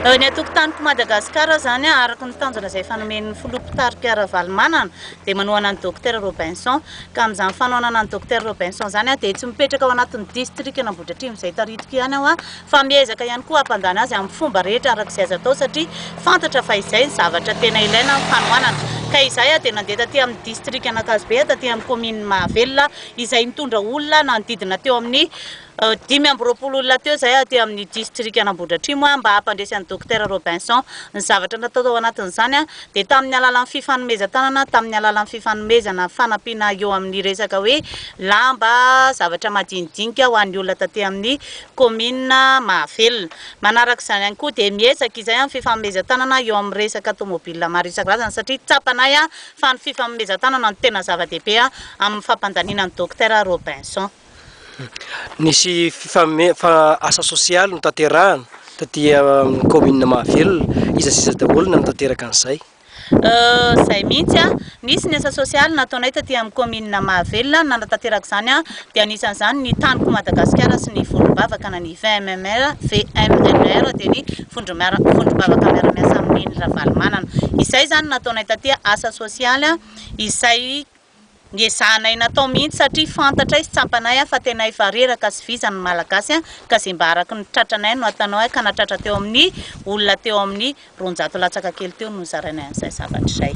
Ny atokotaniko Madagasikara izany araka ny tanjona izay efa nomen'ny Filoha Mpitari-p Ravalomanana dia manohana an'i Docteur Robinson. Ka amin'izany fanohanana an'i Docteur Robinson izany aho dia tsy mipetraka ao anatin'ny distrikan'Ambohidratrimo izay taritiko ihany aho fa miezaka ihany koa hampandany azy amin'ny fomba rehetra araka izay azo atao satria fantatra fa izay ny zavatra tena ilaina amin'ny fanohanana. Ka izahay aho dia nandeha taty amin'ny distrikan'Ankazobe taty amin'ny kaominin'i Mahavelona izay nitondra olona nanodidina teo amin'ny Dimy amby roapolo olona teo izay aty amin'ny distrikan'Ambohidratrimo mba hampandresy an'i Dokotera Robinson. Ny zavatra natao tao anatin'izany dia tamin'ny alalan'ny fifanomezan-tanana, tamin'ny alalan'ny fifanomezana fanampiana eo amin'ny resaka hoe lamba, zavatra madinidinika ho an'ny olona taty amin'ny kaominina Mahavelona. Manaraka izany ihany koa dia miezaka izahay amin'ny fifanomezan-tanana eo amin'ny resaka tomobila maro isan-karazany satria tsapanay fa ny fifanomezan-tanana no tena zava-dehibe amin'ny fampandaniana an'i Dokotera Robinson. Nisy fifamefa asa sosialy notanterahana taty amin'ny kaominina Mahavelona. Iza sy iza daholo no nanatanteraka an'izay? Izay mihitsy an! Nisy ny asa sosialy nataonay taty amin'ny kaominina Mahavelona nanatanteraka izany dia anisan'izany ny Taniko Madagasikara sy ny Vondrom-bavaka na ny VMMR, VMNR, dia ny Vondrom-bavaka Miara-miasa Amin'i Neny Ravalomanana. Izay izany no nataonay taty asa sosialy izay Niezahanay natao mihitsy satria fantatray sy tsapanay a fa tena efa reraka sy vizana ny malagasy a ka ze mba araky ny tratranay no ataonao a ka natratra teo amin'ny olona teo amin'ny roanjato latsaka kely teo no nozarainay an'izay zavatra izay.